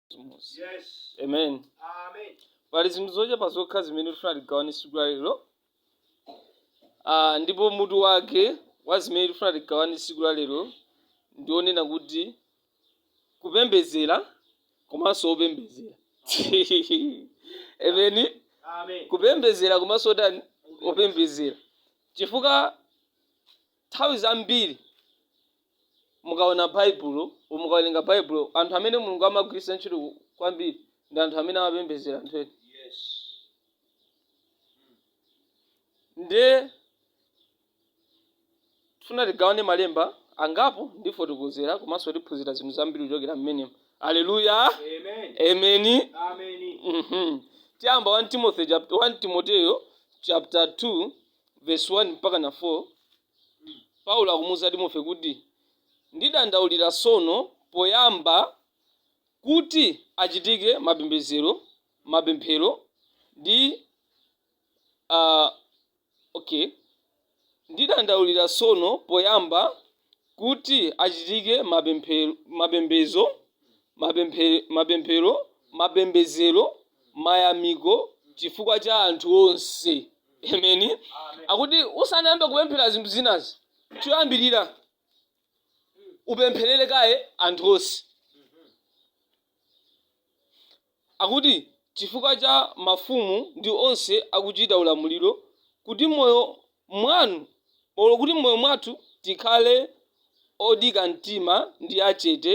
chimodzi Yes. amen Amen. pali zinthu zochepa zokha zimene tifuna tigawane tsiku la lero Ah, ndipo mutu wake wa zimene tifuna tigawane tsiku la lero ndi onena kuti kupembedzera komanso opembedzera ameni Amen. kupembedzera komanso otani opembedzera chifukwa Nthawi zambiri mukaona Baibulo, or mukawerenga Baibulo, anthu amene Mulungu amagwiritsa ntchito kwambiri ndi anthu amene amapembedzera anthu ena. Yes. Nde tifuna tigawane malemba angapo ndifotokozera komanso tiphunzire zinthu zambiri kuchokera mmenemo. Aleluya. Amen. Ameni. Amen. Mhm. Tiyamba 1 Timoteyo chapter 2 Vesi 1 mpaka na 4, Paulo akumuuza Timoteyo kuti, Ndidandaulira tsono poyamba kuti achitike mapembedzero, mapemphero ndi a, okay, Ndidandaulira tsono poyamba kuti achitike mapemphe, mapemphero, mapembedzero, mayamiko chifukwa cha anthu onse. Ameni. Akuti usanayambe kupemphera zinthu zinazi, choyambirira upempherere kaye anthu onse. Akuti chifukwa cha mafumu ndi onse akuchita ulamuliro, kuti moyo mwanu, olo kuti mmoyo mwathu tikhale odika mtima ndi achete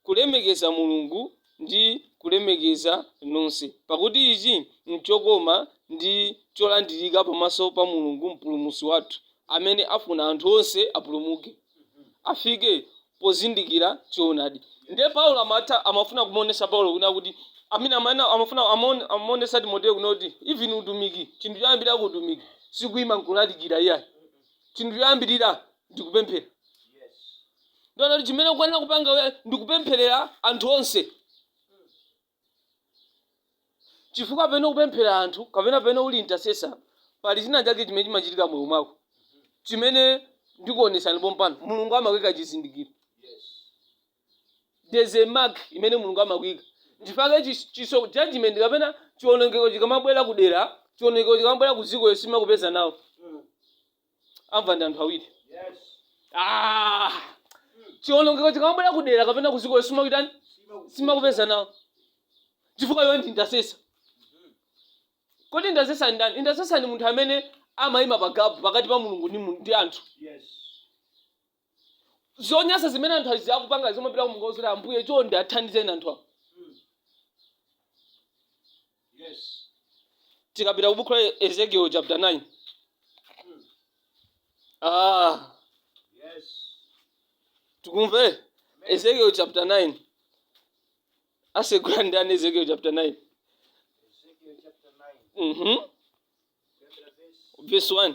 kulemekeza Mulungu ndi kulemekeza nonse, pakuti ichi n'chokoma ndi cholandirika pamaso pa Mulungu Mpulumutsi wathu, amene afuna anthu onse apulumuke. afike pozindikira choonadi. Ndiye Paulo amatha amafuna kumuonesa Paulo kunena kuti amene amana amafuna amon amuonesa Timoteyo kunena kuti even utumiki chinthu choyambirira ku utumiki sikuima nkulalikira iyayi. Chinthu choyambirira ndi kupemphera. Ndiye kuti chimene ukuyenera kupanga iwe ndi kupempherera anthu onse. chifukwa pamene ukupempherera anthu kapena pamene uli intercessor pali china chake chimene chimachitika moyo mwako chimene ndikuonetsani pompano mulungu amakuika chizindikiro there's a mark imene mulungu amakuika nchifukwa chake chis- chiso judgment kapena chionongeko chikamabwera kudera chionongeko chikamabwera ku dziko iwe sichimakupeza nawo amva ndi anthu awiri Ah, chiwonongeko chikamabwera kudera kapena kuziko sichimakutani sichimakupeza nawo chifukwa iwe ndi intercessor kodi intercessor ndi ndani intercessor ndi munthu amene amayima pa gapu pakati pa mulungu ndi mu- ndi anthu zonyasa zimene anthu azi akupanga kumapita kumangouza ambuye chonde athandizeni anthu awo Yes. tikapita ku buku la ezekiel chapter 9 ah Yes. tikumve ezekiel chapter 9 asegula ndani ezekiel chapter 9 Ezekiel chapter 9, mhm chapter verse verse 1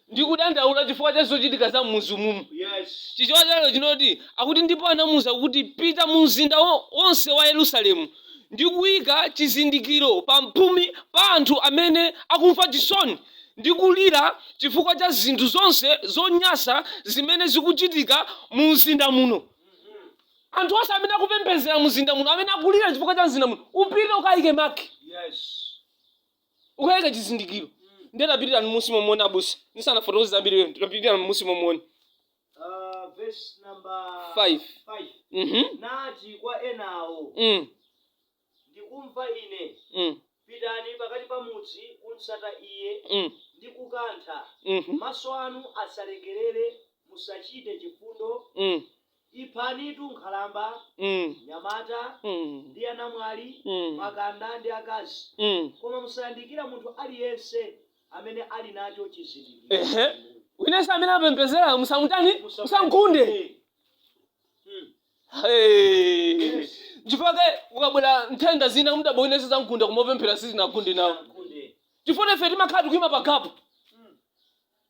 Ndikudandaula chifukwa cha zochitika za m'mudzi mumu. Chichewa cha lero chinati, akuti ndipo anamuuza kuti, Pita mu mzinda wonse wa Yerusalemu ndi kuika chizindikiro pamphumi pa anthu amene akumva chisoni ndi kulira chifukwa cha zinthu zonse zonyansa zimene zikuchitika mumzinda muno. Anthu onse amene akupembedzera mzinda muno, amene akulira chifukwa cha mzinda muno, upite ukaike mark. ukayike chizindikiro ndiye tapitirani munsi momwe abusa ndisanafotokoze zambiri lero tapitirani munsi momwe Ah, verse number Five. five. mhm nati kwa enawo mm ndikumva ine mm pitani pakati pa mudzi kumsata iye mm ndi kukantha mhm maso anu asalekerere musachite chifundo mm Iphanitu nkhalamba, mnyamata, ndi anamwali, makanda, ndi akazi, koma musayandikire munthu aliyense amene ali nacho chizindikiro inu. Wina ense amene apembedzerayo musamutani? Musamugunde. Nchifukwa chake kukabwera nthenda zina mudabwa wina ense zamgunda koma opemphera sizinagunde nawo. Chifukwa ife timakhala tikuima pa gap.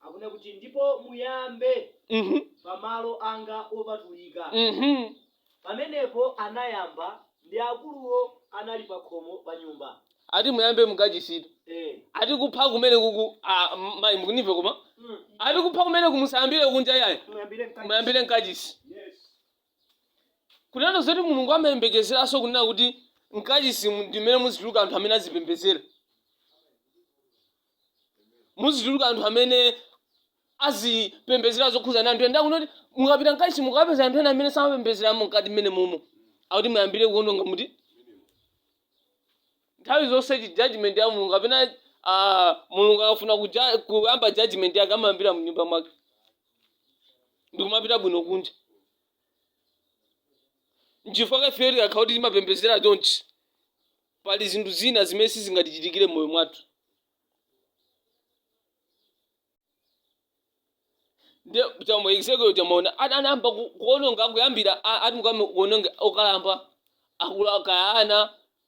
akunena kuti ndipo muyambe Mhm, pamalo anga opatulika mhm. pamenepo anayamba ndi akuluwo anali pa khomo pa nyumba ati muyambe mukachisitu eh. ati kupha kumene kuku ah, m- mayi mundimve koma mm. ati kupha kumene uku musayambire kunja yayi muyambire mkati. muyambire mkachisi yes. kunena zoti mulungu amayembekezeranso kunena kuti mkachisi mu- ndimene muzituluka anthu amene azipembedzera muzituluka anthu amene azipembedzera zokhuza na anthu ena kunena kuti mukapita mkachisi mukapeza anthu ena amene samapembedzeramo mkati mmene momo akuti muyambire kuononga mkati nthawi zonse chi judgment ya mulungu kapena ah, mulungu akafuna kuja- kuyamba judgment yake amayambira mnyumba mwake ndikumapita bwino kunja nchifukwa chake ifeyo tikakhala kuti timapembedzera chonchi Pali zinthu zina zimene sizingatichitikire m'moyo mwathu. Ndiye cha mu Ezekiel tamaona ana- anayamba ku- kuononga kuyambira a- ati mukayambe kuononga okalamba akulu kaya ana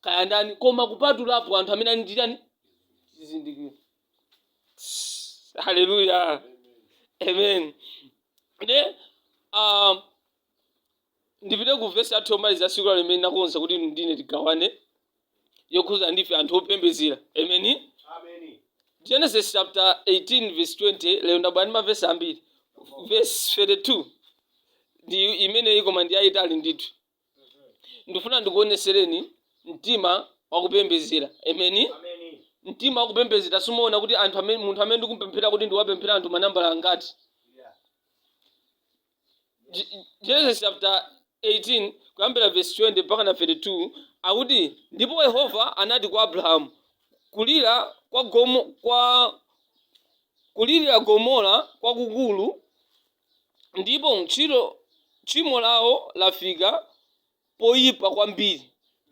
kaya ndani koma kupatulapo anthu amene ali ndi chani zizindikiro. Haleluya. Amen. Ndiye um, ndipite ku vesi yathu yomaliza ya tsiku la lero imene ndinakonza kuti inu ndine tigawane yokhuzana ndife anthu opembezera ameni Ameni. genesis chapter 18 verse 20 lero ndabwera ndi mavesi ambiri verse 32 ndi imeneyi koma ndi yayitali ndithu ndifuna ndikuonesereni mtima wakupembezera ameni Ameni. mtima wakupembezera sumaona kuti anthu amene munthu amene ndikumpemphera kuti ndiwapemphera anthu manambala angati Yeah. Genesis chapter 18 kuyambira verse 20 mpaka na 32 akuti ndipo Yehova anati kwa Abrahamu kulira kwa gomo kwa kulirira Gomora kwakukulu ndipo ntchito tchimo lawo lafika poyipa kwambiri.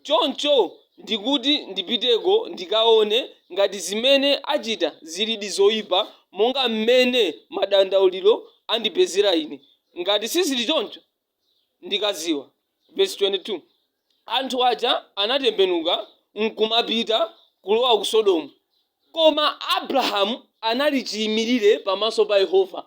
Choncho ndikuti ndipiteko ndikaone ngati zimene achita zilidi zoyipa monga mmene madandauliro andipezera ine. Ngati sizili choncho, ndikadziwa. Vesi 22, Anthu aja anatembenuka n'kumapita kulowa ku Sodomu. Koma Abrahamu anali chiyimirire pamaso pa Yehova.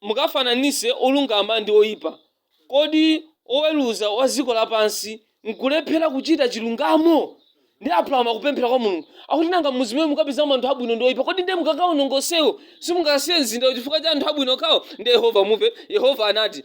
mukafananitse olungama ndi oipa? Kodi Woweruza wa dziko lapansi n'kulephera kuchita chilungamo? Ndiye Abrahamu akupemphera kwa Mulungu. Akuti nanga mudzi umene mukapezamo anthu abwino ndi oipa, kodi ndiye mukakawononga onsewo? Simungasiye mzindawo chifukwa cha anthu abwino okhawo? Ndiye Yehova mumve. Yehova anati,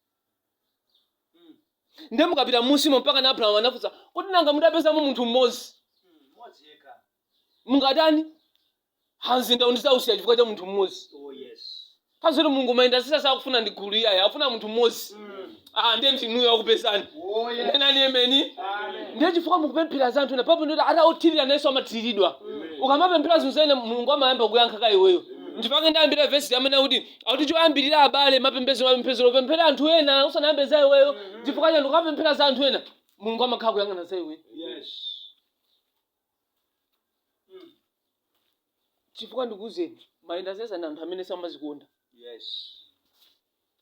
ndiye mukapita m'munsimo mpaka na abrahamu anafunsa kuti nanga mutapezamo munthu mmodzi mmodzi yekha mungatani mzindawu ndizausiya chifukwa cha munthu mmodzi oh yes kazoti mulungu ma intercessor sakufuna ndi gulu iyayi akufuna munthu mmodzi ah ndiye ndinuyo akupezani oh yes nenani emeni amen ndiye chifukwa mukupemphera za anthu ena papo ndoti ati othirira nayenso amathiridwa ukamapemphera za anthu ena mulungu amayamba kuyankha kaye iweyo ndipake ndayambira vesi amene akuti akuti choyambirira abale mapembezo mapembezero opempherera anthu ena usanayambe za iweyo chifukwa chani ukapemphera za anthu ena mulungu amakhala akuyang'ana za iweyo Yes. chifukwa ndikuuzeni ma intercessor ndi anthu amene samazikonda Yes.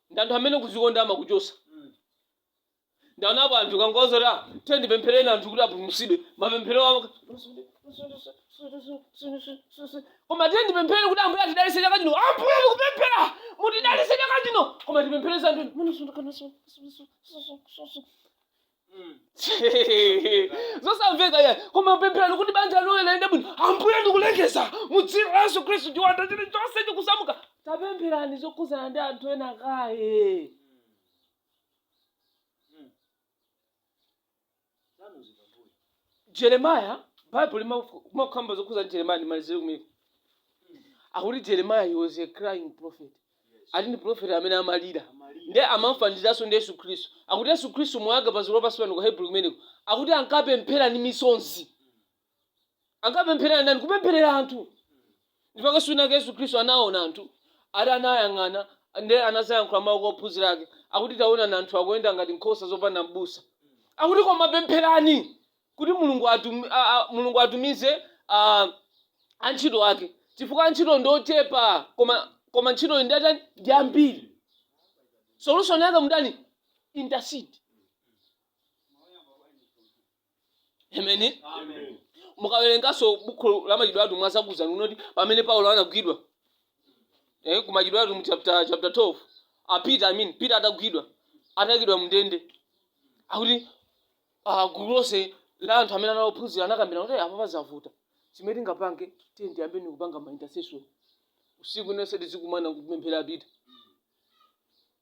ndi anthu amene kuzikonda amakuchosa Mm. ndaonapo anthu kangozo tate ndipemphereni anthu kuti apulumutsidwe mapemphero awo koma tate ndipemphereni kuti ambuye atidalitse chaka chino ambuye tikupemphera mutidalitse chaka chino koma tipemphere za anthu zosamveka ya koma pempherani kuti banja lanu liyende bwino ambuye ndikulengeza mu dzina la yesu khristu chiwanda chilichonse chikusamuka tapempherani zokhudzana ndi anthu ena kaye jeremiah bible limakamba zokhuza jeremiah ndimalizire kumeneko akuti jeremiah he was a crying prophet ati ndi prophet amene amalira nde amamfanizanso ndi yesu khristu akuti yesu khristu moyo wake padziko lapansi pano ku hebrew kumeneko akuti ankapemphera ndi misonzi ankapempherera ndani kupempherera anthu ndipo case inayake yesu khristu anaona anthu ati anayang'ana nde anadzayankhula mawu kwa ophunzira ake akuti taonani anthu akuyenda ngati nkhosa zopanda m'busa akuti koma pempherani kuti mulungu, atum, a, a, mulungu atumize a, antchito ake chifukwa antchito ndi ochepa koma koma ntchitoyi ndi yotani ndi yambiri solution yake mutani intercede ameni Amen. mukawerenganso buku la machitidwe atumwi azakuuzani zoti pamene paulo anagwidwa eh, ku machitidwe atumwi chapter, chapter 12 ah, peter I mean, peter atagwidwa atagwidwa mndende akuti ah, gulu lonse la anthu amene anaophunzira anakambirana kuti "Eh, apa pazavuta chimene tingapange tiyeni tiyambeni kupanga ma intercession usiku onse tizikumana kupemphera peter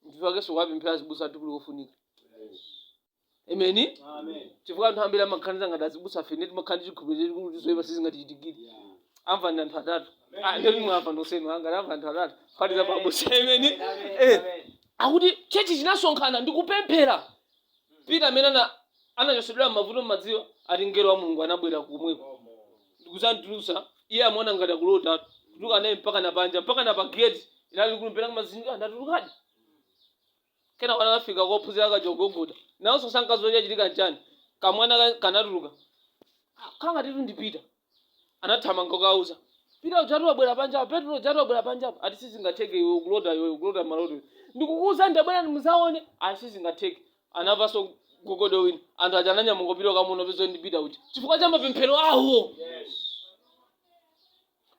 ndipakenso kuwapemphera azibusa athu n'kofunika ameni chifukwa anthu ambiri amaganiza ngati azibusafe nde timakhala ndi chikhulupiriro kuti zoyipa sizingatichitikire amva ndi anthu atatu Ah, ndio mimi amva nonsenu angati amva anthu atatu kuphatikiza abusa ameni eh akuti chechi chinasonkhana ndikupemphera peter amene ana anachotsedwa m'mavuto mmadziwa ati mngelo wa mulungu anabwera komweko ndikuzamutulutsa iye amaona ngati akulota kutuluka naye mpaka na panja mpaka na pageti inali kumpera kumazinga ndatulukadi Kenako anafika kwa ophunzira kaja kugogoda. Nawonso sankadziwa chachitika n'chani. Kamwana ka kanatuluka. Ah, kangatitu ndi Peter. Anathamanga kukauza. Peter ujatu wabwera panja apa. Petro ujatu wabwera panja apa. Ati sizingatheke iwe ukulota iwe ukulota maloto iwe. Ndikukuuzani tabwerani muzaone. Ayi sizingatheke. Anamvanso kugogoda kwina. Anthu aja ananyamuka kupita kukamuona pezoti ndi Peter uja. Chifukwa cha mapemphero awo.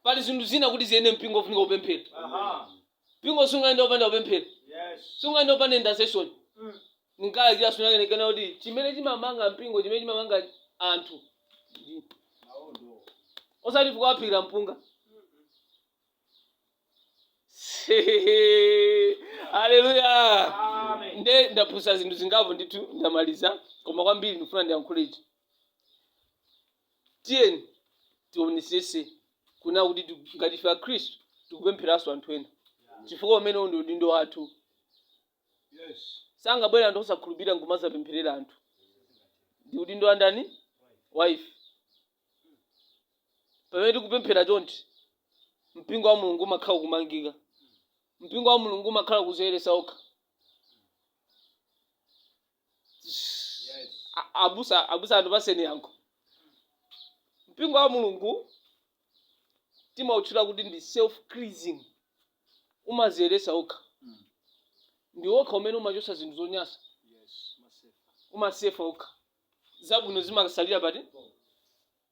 Pali zinthu zina kuti ziyende mpingo ufunika kupemphera. Mpingo sungayende opanda kupemphera. Sungayende opanda intercession. Ngakhale kira sunake ndikunena kuti chimene chimamanga mpingo chimene chimamanga anthu. ndi- Osati kukaphikira mpunga. Hallelujah. nde ndaphunzitsa zinthu zingapo ndithu ndamaliza koma kwambiri ndikufuna ndiyankhule ichi Tiyeni tionetsetse kunena kuti tiku- ngati ife Akhristu tikupemphereranso anthu ena, chifukwa umenewu ndi udindo wathu. Sangabwere anthu osakhulupirira nkumadzapempherera anthu. Ndi udindo wa ndani? Wa ife. Pamene tikupemphera chonchi, mpingo wa Mulungu umakhala ukumangika. Mpingo wa Mulungu umakhala ukudziyeretsa okha. Yes. A- abusa abusa anthu apatseni yankho mpingo wa mulungu timautchula kuti ndi self cleansing umaziyeresa okha Mm. ndi okha umene umachosa zinthu zonyasa Yes. Masefa. umasefa okha zabwino zimasalira pati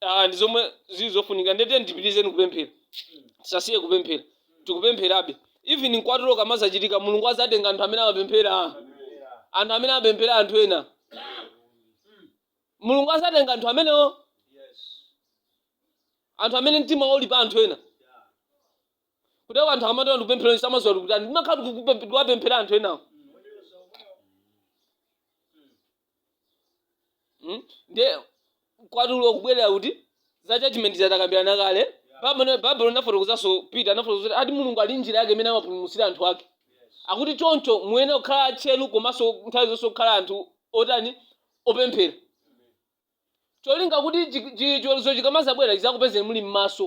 Ah, ndi zomwe zili zofunika nde tiyeni tipitilizeni kupemphera tisasiye kupemphera tikupempherabe even mkwatulo ukamazachitika mulungu azatenga anthu amene amapemphera anthu amene amapemphera anthu ena mulungu azatenga anthu amenewo anthu amene mtima wawo uli pa anthu ena kuti anthu akamati tikupemphera samaziwa tikutani ndimakhala tikuwapemphera anthu enawo Mm? ndiye mkwatulo kubwerera kuti za judgment takambirana kale Baibulo- baibulo linafotokozanso peter anafotokoza kuti ati mulungu ali njira yake imene amapulumutsira anthu ake akuti choncho muyenera kukhala atcheru komanso nthawi zonse kukhala anthu otani opemphera cholinga kuti chi- chi- chiweruzo chikamazabwera chizakupezeni muli m'maso